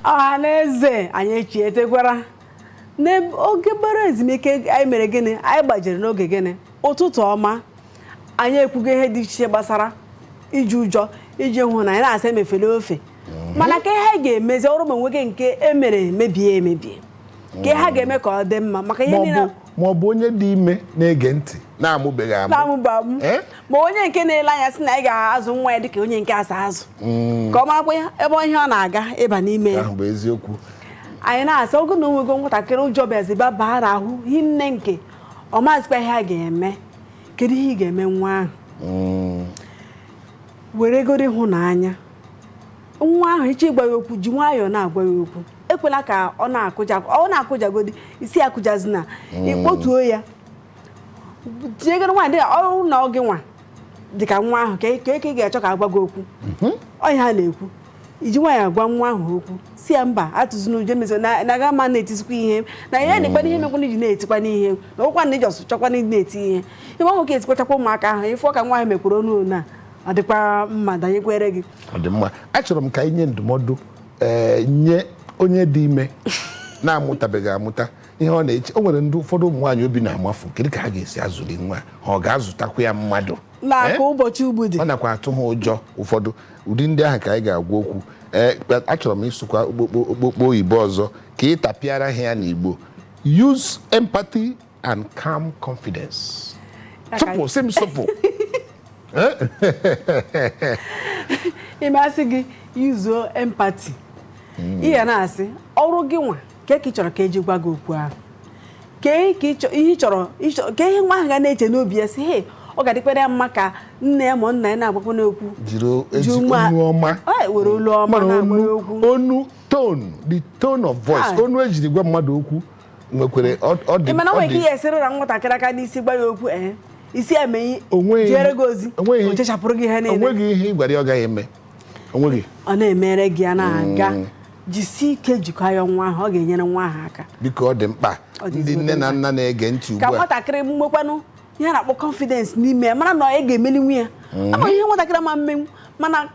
ọha na eze anyị echietekwara n'oge gbara ezumike anyị mere gịnị anyị gbajere n'oge gịnị ụtụtụ ọma anyị ekwugo ihe dị iche gbasara iji ụjọ iji ịhụnanya na-asị emefela ofe mana kee ihe a ga-emezi ọ bụrụ ma o nwee nke e mere mebie emebie kee ihe a ga-eme ka ọ dị mma maka ihe niile ma ọ bụ onye dị ime na-ege ntị na-amụbeghị amụ na-amụba amụ Eh? ma onye nke na-ele anya sị na ya agaghị azụ nwa ya dịka onye nke a si azụ ka ọ marakwa ya ebe ihe ọ na-aga ịba n'ime ya ahụ bụ eziokwu anyị na-asị ọ bụrụ na o nwego nwatakịrị ụjọ bịaziba baa n'ahụ hinne nke ọ mazikwa ihe a ga-eme kedu ihe ị ga-eme nwa ahụ Mm, weregodi ịhụnanya nwa ahụ ị chọọ ịgwa ya okwu ji nwayọọ na-agwa ya okwu ekwela ka ọ na-akụja ọ na-akụjagodi isi akụjazina hmm. ị kpọtuo ya tinyegoro onwe gị dịka ọ bụrụ na ọ gị nwa dịka nwa ahụ kee ka ị ga-achọ ka a gwa gị okwu mhm. ọ nya a na-ekwu iji nwayọọ agwa nwa ahụ okwu sị ya mba atụzina ụjọ mezo na-aga ma na-etizikwa ihe na ya na-ekpana ihe mekwana iji na-etikwa n'ihe na ụkwa na iji ọsụ chọkwa na na-eti ihe ebe ọ nwoke etikpachakwa ụmụaka ahụ ị fụ ka nwa ahụ mekwuru ọnụ na ọ dịkwa mma danyekwere gị ọ dị mma achọrọ m ka anyị nye ndụmọdụ ee nye onye dị ime na-amụtabeghị amụta ihe ọ na-eche o nwere ndị ụfọdụ ụmụ nwaanyị obi na-amafu kedu ka ha ga-esi azụli nwa ha ọ ga-azụtakwa ya mmadụ na Eh? ka ụbọchị ugbu dị ọ nakwa atụ ha ụjọ ụfọdụ ụdị ndị ahụ ka anyị ga-agwa okwu ee kpa- achọrọ m ịsụkwa okpokpo okpokpo oyibo ọzọ ka ị tapịara ha ya n'Igbo use empathy and calm confidence. Sụpụ sị m sụpụ. Ị ma a sị gị yuzuo empathy. Hmm. Ihe a na-asị ọ bụrụ gị nwa kee ka ị chọrọ ka e ji gwa gị okwu ahụ. Kee ihe ị chọrọ kee ihe nwa ahụ ga na-eche n'obi ya sị hee ọ ga-adịkwara ya mma ka nne ya ma nna ya na-agwakwanụ okwu jiri were olu ọma na-agwa okwu onu tone the tone of voice onu e jiri gwa mmadụ okwu nwekwere ọ ọ dị ị mana ọ ọ nwere ike dị- ihe esere ụra nwatakịrị aka n'isi gwa ya okwu ee isi emeghị Onweghị- jere gị ozi onweghị- o chechapụrụ gị ihe niile onweghị ihe ị gwara ya ọ gaghị eme onweghị ọ na-emere gị ya na-aga jisie ike jikọọ ya nwa ahụ ọ ga-enyere nwa ahụ aka biko ọ dị mkpa Ọ dị ndị ezigbo nne na nna na-ege ntị ka ugbu a nwatakịrị nwekwanụ ihe a na-akpọ confidence n'ime ya mara na ya ga-emelinwu ya ama ihe nwatakịrị ma mmenwu mana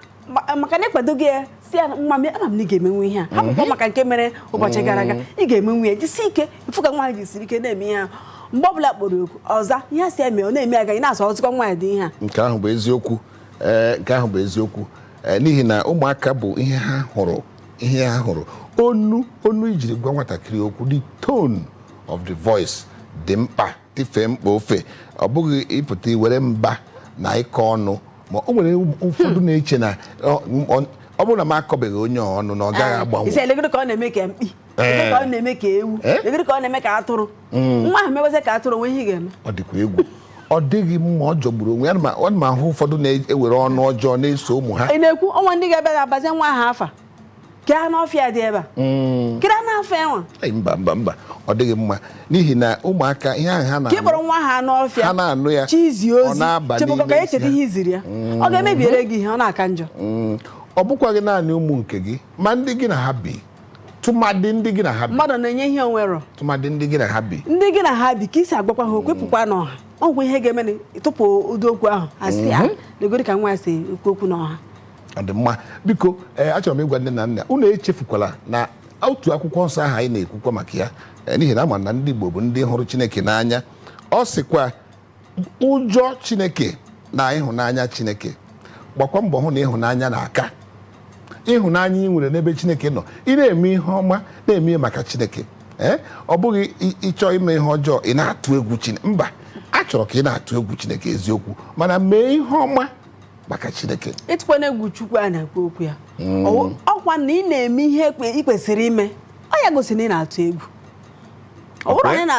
maka na ị kwadoghị ya sị ya nwa m ama m na ị ga-emenwu ihe a hapụkwa mhm. maka nke mere ụbọchị gara aga mhm. ị ga-emenwu ya jisi ike ị fụ ka nwa ahụ jisiri ike na-eme ihe ahụ mgbe ọbụla a kpọrọ oku ọ za ihe a sị ya mee ọ na-eme a ga na-asị ọ dịka nwa ndị ihe a nke ahụ bụ eziokwu eh, nke ahụ bụ eziokwu eh, n'ihi na ụmụaka bụ ihe ha hụrụ ihe ha hụrụ onu onu i jiri gwa nwatakịrị okwu the tone of the voice dị mkpa tifee mkpa ofe ọ bụghị ịpụta iwere mba na ịkọ ọnụ ma o nwere ụfọdụ na-eche na ọ- ọ- ọ bụrụ na m akọbeghị onye a ọnụ na ọ gaghị agbanwe ị sị legodi ka ọ na-eme ka mkpi legodi ka ọ na-eme ka ewu Eh? legodi ka ọ na-eme ka atụrụ nwa ahụ mewazie ka atụrụ o nwee ihe ị ga-eme ọ dịkwa egwu ọ dịghị mma ọ jọgburu onwe ya Ana m- ana m ahụ ụfọdụ na-ewere ọnụ ọjọọ na-eso ụmụ ha ị na-ekwu o nwe ndị ga-abịa ga-abazie nwa ahụ afa ka anụ ọfịa dị ebe a mm. kiri anụ ọfịa nwa mba mba mba ọ dịghị mma n'ihi na ụmụaka ihe ahụ ha na-anụ ka ị kpọrọ nwa ahụ anụ ọfịa ha na-anụ ya chizi ozi chebụkọ ka echeta ihe i ziri ya mm. ọ ga-emebiere gị ihe ọ na-aka njọ mm. ọ bụkwa gị naanị ụmụ nke gị ma ndị gị na ha bi tụmadị ndị gị na ha bi mmadụ na-enye ihe o nwero tụmadị ndị gị na ha bi ndị gị na ha bi ka i si agwakwa ha okwu pụkwa n'ọha ọkwa ihe ga-eme tụpụ ụdị okwu ahụ a sị ya ah, mm-hmm. legodi ka nwa a si ekwu okwu n'ọha ọ dị mma biko ee achọrọ m ịgwa nne na nna unu echefukwala na otu akwụkwọ nsọ ahụ anyị na-ekwukwa maka ya ee, n'ihi na a ma na ndị Igbo bụ ndị hụrụ Chineke n'anya ọ sịkwa ụjọ Chineke na ịhụnanya Chineke gbakwa mbọ hụ na ịhụnanya na-aka ịhụnanya i nwere n'ebe Chineke nọ ị na-eme ihe ọma na-eme ihe maka Chineke ee ọ bụghị ị- ịchọ ime ihe ọjọọ ị na-atụ egwu Chineke mba a chọrọ ka ị na-atụ egwu Chineke eziokwu mana mee ihe ọma maka chineke ịtụkwanụ egwu chukwu a na-ekwu okwu ya mm. ọkwa na ị na-eme ihe ị kwesịrị ime ọ ya gosi na ị na-atụ egwu ọ bụrụ na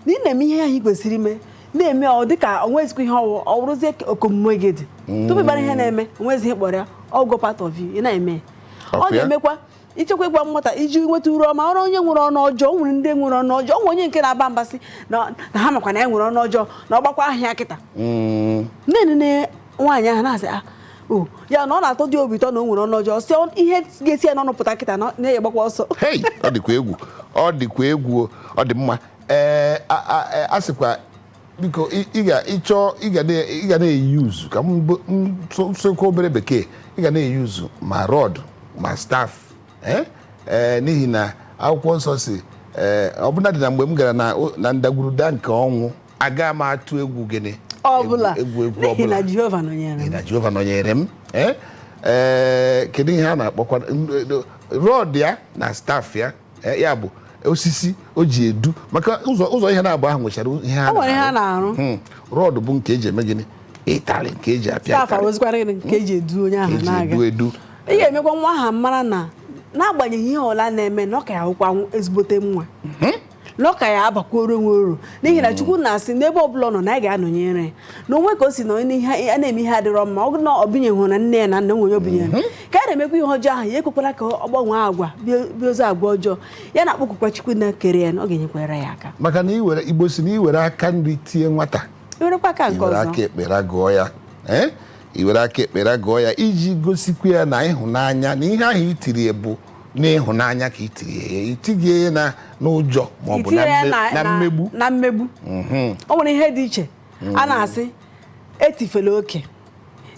ị na-eme ihe ahụ ị kwesịrị ime na-eme ọ dịka o nwezikwa ihe ọ wụ ọ bụrụzie omume gị dị mm. tupu ị mara ihe na-eme o nwezi ihe a kpọrọ ya ọ ghọọ part of you ị na-eme ọ ga-emekwa i cheekwa ịgwa nwata iji nweta uru ọma ọ bụrụ onye nwere ọnụ ọjọọ e nwere ndị nwere ọnụ ọjọọ o nwe onye nke na-aba mba sị na ha makwa na ya nwere ọnụ ọjọọ na ọ gbakwa ahịa kịta mm. nne nwaanyị ahụ na-asị ah, oh, ya na ọ na-atọdị obi ụtọ na o nwere ọnụ ọjọọ sị ihe ga-esi ya n'ọnụ pụta kịta na onye gbakwa ọsọ ọ dịkwa egwu ọ dịkwa egwu ọ dị mma ee eh, a sịkwa biko ị- ị ga ịchọ ị ga na- ị ga na-euse ka m bụ- m sụ- sụkwa obere bekee ị ga na-euse ma rod ma staff eh? Eh, n'ihi na akwụkwọ nsọ sị eh, ọbụnadị na mgbe m gara na o- na ndagwurugwu nke ọnwụ aga m atụ egwu gịnị ọ bụla egwu egwu n'ihi ọbụla na jehova nọnyere N'ihi m na jehova nọnyere m eh? Eh, kedu ihe a na-akpọkwa rod ya na staff ya Eh, ya bụ osisi o ji edu maka ụzọ ụzọ ihe naabọ ahụ nwechara ihe ha O nwere ihe ha na-arụ. Hmm. rod bụ nke e ji eme gịnị ụtarị nke e ji apịa staff ụtarị, awụzikwara gịnị nke e ji edu onye ahụ e ji na-aga edu edu ị ga-emekwa nwa ahụ mara na n'agbanyeghị ihe ọla na-eme na ọ ka ya-awụkwa nw- ezigbote nwa na ọ ka ya-abakworo onwe uru n'ihi na chukwu na-asị n'ebe ọbụla ọ nọ na ya ga-anọnyere ya na onwe ka o si na onye ihe a na-eme ihe adịrọ mma ọ bụrụ na ọ binyeghụ na nne ya na nna nwere ọ bụ onye ka na-emekwa ihe ọjọọ ahụ ya ekwekwala ka ọ gbanwee agwa bie- bie ozu agwa ọjọọ ya na-akpọkukwa chukwu na kere ya na ọ ga-enyekwara ya aka maka na iwere igbo si na iwere aka nri tie nwata ewerekwa aka nke iwere aka ọzọ ekpe gụgụọ ya ee iwere aka ekpe gụgụọ ya iji gosikwa ya na ịhụnanya na ihe ahụ i tiri ya bụ n'ịhụnanya ka i tiri ya i tighị ya na n'ụjọ ma ọ bụ na itinye ya mme- na- na na- mmegbu na mmegbu Mhm. o nwere ihe dị iche a na-asị etifela oke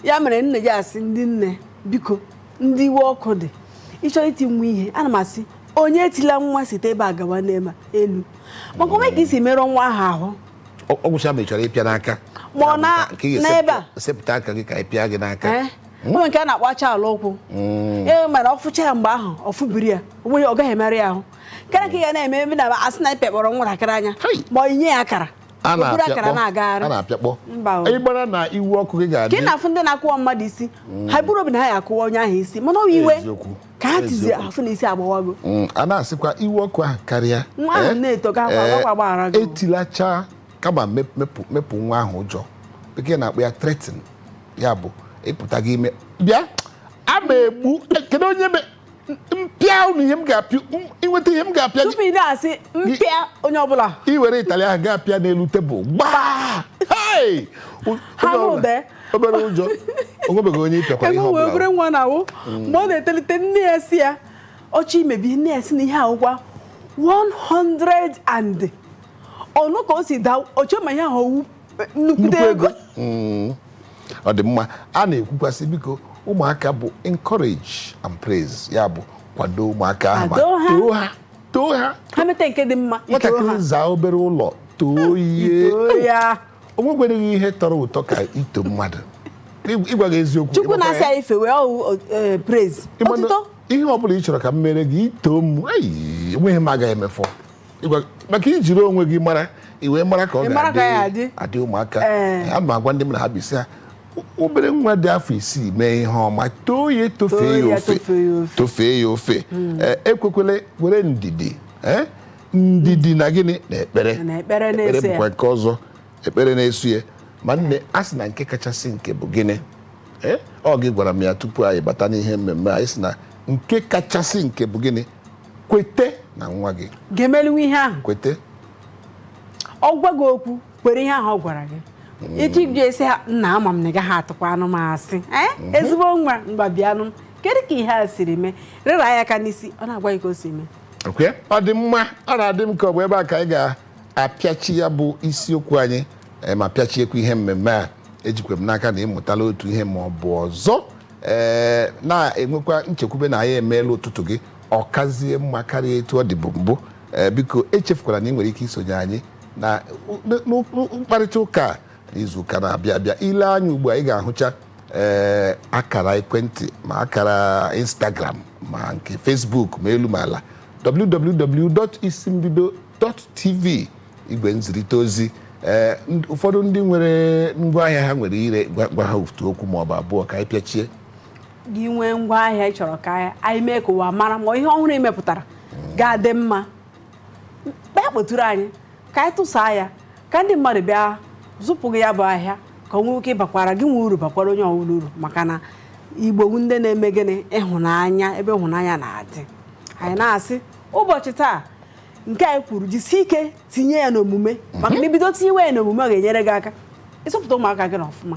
ya mere nne ji asị ndị nne biko ndị iwe ọkụ dị ị chọrọ iti nwa ihe ana m asị onye etila nwa site ebe a gawa n'ebe a, elu maka o nwe ka i si merụọ nwa ahụ ahụ ọ ọ gwụcha ma ị chọrọ ịpịa n'aka Ma ọ na- Ka ị ga-esepụta- n'ebe a. sepụta aka gị ka ị pịa gị n'aka Eh? o nwe nke a na-akpọ acha ala ụkwụ mm. e mana ọ fụcha ya mgbe ahụ ọ fụbiri ya onweghị ọ gaghị emerụ ya ahụ karịa ka ị ga na-eme ebe na asị na ị pịakpọrọ nwatakịrị anya ma ọ inye ya akara a na-apịakpọ ịgbara na iwe ọkụ gị ga-adị ka na-afụ ndị na-akụwa mmadụ isi mm. ha buru obi na ha ya akụwa onye ahụ isi mana ọ iwe ka ha tizi afụ na isi agbawago mm, a na-asịkwa iwe ọkụ ahụ karịa nwa ahụ eh? na-eto ka akwa eh, agbaghara gị etilacha kama mep- mepụ mepụ nwa ahụ ụjọ bekee na-akpọ ya threaten ya bụ ịpụta gị ime bịa a ma egbu kedu onye me mpịa unu ihe m ga-apịa inweta ihe m ga-apịa gị tupu ị na-asị mpịa onye ọbụla i were ịtalị ahụ gaa pịa n'elu tebụl gbaa Hey! U- Ha onye ọbụla- mụde. obere ụjọ onwebeghị onye ịpịakwara ihe ebe wee obere ọbụla nwa na-awụ mgbe ọ na-etolite nne ya si ya ọchị imebi nne ya si na ihe a wụkwa 100 and ọ nụ ka o si daa o chee ma ihe ahụ ọ wụ eh, nnukwute ego mm. ọ dị mma a na-ekwukwasị biko ụmụaka bụ encourage and praise ya bụ kwado ụmụaka ahụ ma too ha too ha ha meta nke dị mma nwatakịrị zaa obere ụlọ too ya o nwekwereghị ihe tọrọ ụtọ ka ito mmadụ ịgwa gị eziokwu chukwu na-asị anyị fewe ọ wụ eh, praise ihe ọ bụla ị chọrọ ka m mere gị i too m enweghị m agaghị emefọ Ịgwa- maka i jiri onwe gị mara i wee mara ka ọ Ị mara ka ya adị. adị ụmụaka Ee. ana m agwa ndị m na ha bi sị ha "O- obere nwa dị afọ isii mee ihe ọma too ya Too tofee ya ya, ofe tofee ya ofe. tofee ya ofe Ee, ekwekwele were ndidi ee, ndidi na gịnị na ekpere Na ekpere na-eso ya. bụkwa nke ọzọ ekpere na-eso ya ma nne a sị na nke kachasị nke bụ gịnị Ee, ọ gị gwara m ya tupu anyị bata n'ihe mmemme anyị sị na nke kachasị nke bụ gịnị kwete na nwa gị ga-emelinwe ihe ahụ kwete ọ gwa gị okwu kwere ihe ahụ ọ gwara gị etu iji esi ha nna ama m na ị gaghị atụkwanụ m asị ee ezigbo nwa ngwa bịanụ kedu ka ihe a siri mee rịra ya aka n'isi ọ na-agwa gị ka o si mee Ok? ọ dị mma ọ na-adị m ka ọ bụ ebe a ka anyị ga-apịachi ya bụ isiokwu anyị eh, ma pịachiekwa ihe mmemme a ejikwa m n'aka na ị mụtala otu ihe ma ọ bụ ọzọ ee na-enwekwa nchekwube na anyị emeela ụtụtụ gị ọ kazie mma karịa etu ọ dịbụ mbụ ee biko echefukwala na ị nwere ike isonye anyị na mkparịta ụka n'izu ụka na-abịa abịa ị lee anya ugbu a ị ga-ahụcha ee akara ekwentị ma akara instagram ma nke facebook ma elu ma ala www.isimbido.tv igwe nzirịta ozi ee ụfọdụ ndị nwere ngwaahịa ha nwere ire gwa ha otu okwu ma ọ bụ abụọ ka anyị pịachie gị nwee ngwa ahịa ị chọrọ ka anyị mee ka ụwa mara ma ihe ọhụrụ e mepụtara ga-adị mma bịa kpọtụrụ anyị ka anyị tụsaa ya ka ndị mmadụ bịa zụpụ gị ya bụ ahịa ka o nwee ike ịbakwara gịnwa uru bakwara onye ọbụla uru maka na igbo bụ ndị na-eme gịnị ịhụnanya ebe ịhụnanya na-adị anyị na-asị ụbọchị taa nke anyị kwuru jisie ike tinye ya n'omume maka na i bido tinyewe ya n'omume ọ ga-enyere gị aka ịzụpụta ụmụaka gị n'ọfụma